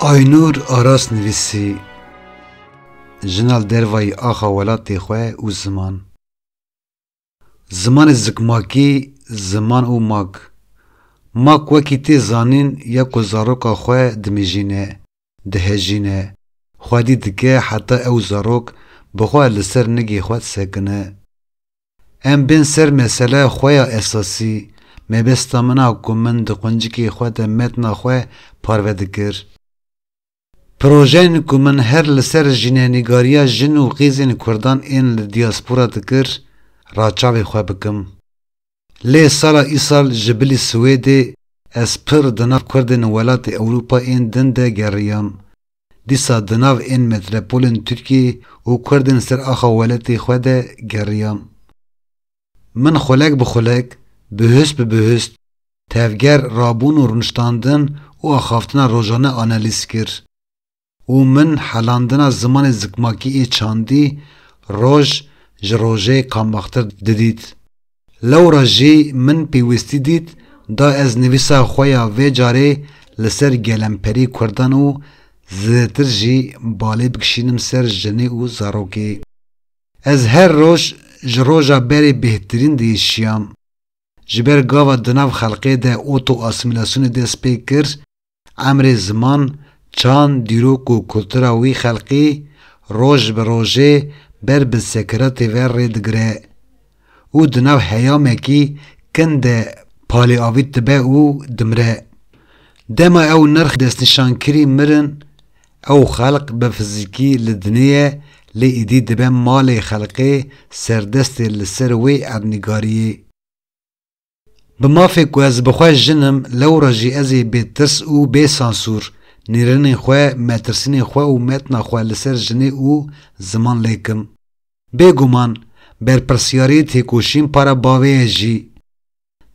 Aynur Aras nivîsî Jina li dervayî axa welatê xwe û ziman. Zimanê zikmakî, ziman û mak Mak wekî tê zanîn ya ku zaroka xwe dimijîne, dihejîne, xwedî dike heta ew zarok bi xwe li ser nigê xwe disekine. Em bên ser meseleya xwe ya esasî, mebesta min a ku min di quncikê xwe de metna xwe parve dikir. Projeyên ku min her li ser jînenîgariya jin û qîzên kurdan ên li diaspora dikir ra çavê xwe bikim. Lê sala îsal ji bilî Swêdê ez pir di nav kurdên welatê Ewropa ên din de geriyam. Dîsa di nav ên metropolên Tirkiyê û kurdên ser axa weletê xwe de geriyam. Min xulek bi xulek, bihust bi bihust, tevger rabûn û rûniştandin û axaftina rojane analîz kir û min helandina zimanê zikmakî ê çandî roj ji rojê qambaxtir didît. Lewra jî min pêwîstî dît da ez nivîsa xwe ya vê carê li ser gelemperî kurdan û zêdetir jî balê bikişînim ser jinê û zarokê. Ez her roj ji roja berê bêhtirîn diêşiyam. Ji ber gava di nav xelqê de oto-asîmîlasyonê dest pê kir, emrê ziman, çand, dîrok û kultura wî xelqî roj bi rojê ber bi sekeratê ve rê digire. û di nav heyamekî kin de palêavît dibe û dimire. Dema ew nirx destnîşankirî mirin, ew xelq bi fizîkî li dinê ye lê êdî dibe malê xelkê serdestê li ser wê erdnîgariyê. Bi mafê ku ez bi xwe jin im lewra jî ez ê bê tirs û bê sansûr nêrînên xwe, metirsînên xwe û metna xwe li ser jinê û ziman lêk im. Bê guman berpirsyarî têkoşîn para bavê ye jî.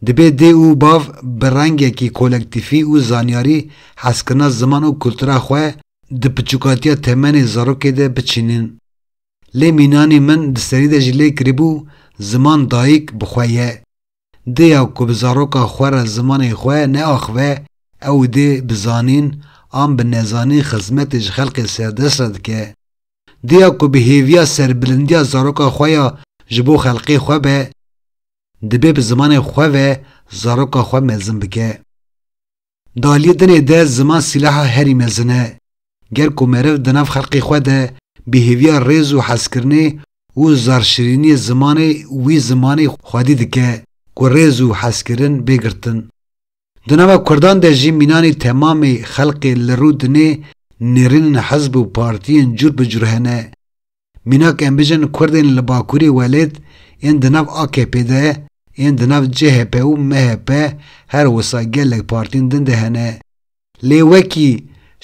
Dibê dê û bav bi rengekî kolektîfî û zanyarî hezkirina ziman û kultura xwe di piçûkatiya temenê zarokê de biçînin. Lê mînanê min di serî de jî lê kirîbû ziman dayîk bi xwe ye. Dê ya ku bi zaroka xwe re zimanê xwe neaxive ew dê bi zanîn an bi nezanîn xizmetê ji xelkê serdest re dike. Dê ya ku bi hêviya serbilindiya zaroka xwe ya ji bo xelkê xwe be, dibê bi zimanê xwe ve zaroka xwe mezin bike. Di aliyê dinê de ziman sîlaha herî mezin e. Ger ku meriv di nav xelkê xwe de bi hêviya rêz û hezkirinê û zarşirîniyê zimanê wî zimanê xwedî dike ku rêz û hezkirin bê girtin. Di nava kurdan de jî mînanê temamê xelkê li rû dinê nêrînin hizb û partiyên cûr bi cûr hene. Mînak em bijîn kurdên li bakurî welêt yên di nav AKP'ê de, yên di nav CHP û MHP her wisa gelek partîn din de hene. Lê wekî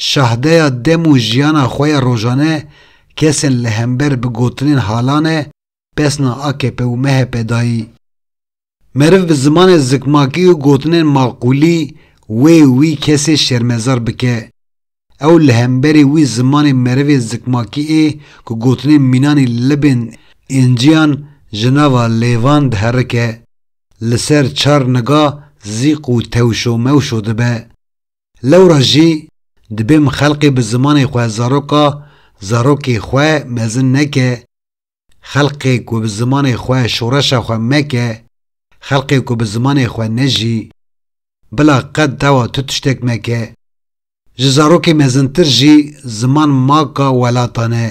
şahdeya dem û jiyana xwe ya rojane kesên li hember bi gotinên halane pesna AKP û MHP dayî. Meriv bi zimanê zikmakî û gotinên maqûlî wê û wî kesê şermezar bike, ew li hemberî wî zimanê merivê zikmakî ê ku gotinên mînan ê li bên înciyan ji nava lêvan diherike, li ser çar niga zîq û tewşomewşo dibe. Lewra jî dibêm xelqê bi zimanê xwe zaroka zarokê xwe mezin neke, Xelqê ku bi zimanê xwe şoreşa xwe meke, xelqê ku bi zimanê xwe nejî, bila qet dawa tu tiştek meke. Ji zarokê mezintir jî ziman maka welatan e.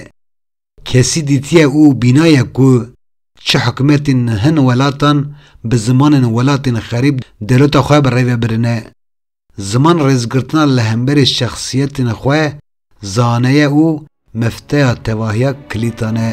Kesî dîtiye û bînaye ku çi hikûmetên hin welatan bi zimanên welatên xerîb dewleta xwe bi rê ve birine. Ziman rêzgirtina li hemberî şexsiyetên xwe zaneye û mifteya tevahiya kilîtan e.